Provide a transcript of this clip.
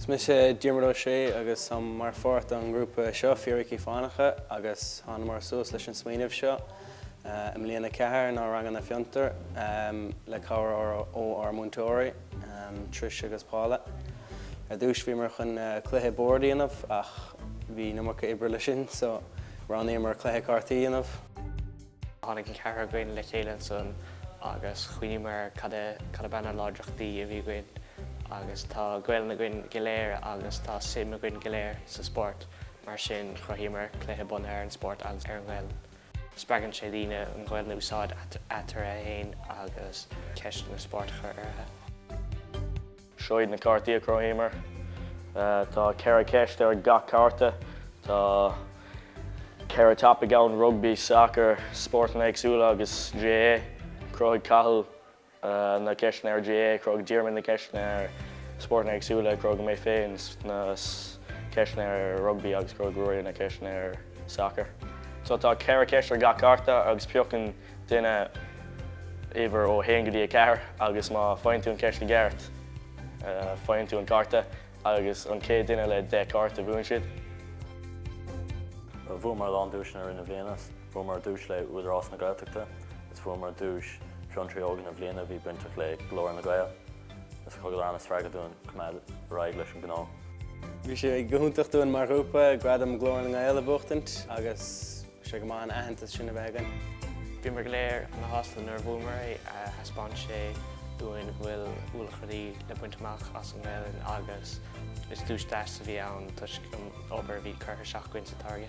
Is mise Diarmuid Ó Sé agus táim mar pháirt don ngrúpa seo, Fíricí Fánacha, agus thánamar suas leis an smaoineamh seo i mbliain a ceathair inár ranganna Fiontar le cabhair ó ár múinteoirí, Trish agus Paula. Ar dtús bhíomar chun cluiche boird a dhéanamh ach bhí an iomarca oibre leis sin so roghnaíomar cluiche cártaí a dhéanamh. Tháinig an ceathrar againn le chéile ansan agus chuimhníomar cad a cad ab ea na láidreachtaí a bhí againn agus tá Gaolainn againn go léir agus tá suim againn go léir sa spórt mar sin chruthaíomar cluiche bunaithe ar an spórt agus ar an nGaolainn. Spreagann sé daoine an Ghaolainn a úsáid eatarthu fhéin agus ceisteanna spóirt a chur orthu. Seo iad na cártaí a chruthaíomar. Tá ceithre cheist ar gach cárta. Tá ceithre topaic ann, rugby, sacar, spórtanna éagsúla agus GAA. Chruthaigh Cathal na ceisteanna ar GAA, chruthaigh Diarmuid na ceisteanna ar spórtanna éagsúla, chruthaigh mé féin na ceisteanna ar rugby agus chruthaigh Ruairí na ceisteanna ar sacar. So tá ceithre cheist ar gach cárta agus piocann Duine, uimhir ó 1 go dtí 4, agus má faigheann tú an ceist i gceart, faigheann tú an cárta agus an chéad duine le 10 cárta, buann siad. Bhuamar a lán duaiseanna i rith na bliana. Bhuamar duais le Údarás na Gaeltachta agus bhuamar duais Fiontraí Óga na Bliana a bhí bainteach le Glór na nGael. Is thug sé ana-spreagadh dúinn coimeád ar aghaidh leis an ngnó. Bhí sé go hiontach dúinn mar ghrúpa Gradam Ghlór na nGael a bhuachtaint agus. Bhí sé go maith an aitheantas sin a bheith againn. Bhíomar go léir ana-shásta nuair a bhuamar é. Thaispeáin sé dúinn go bhfuil ualach rudaí le baint amach as an nGaelainn agus is duais deas a bhí ann toisc an obair a bhí curtha isteach againn sa táirge.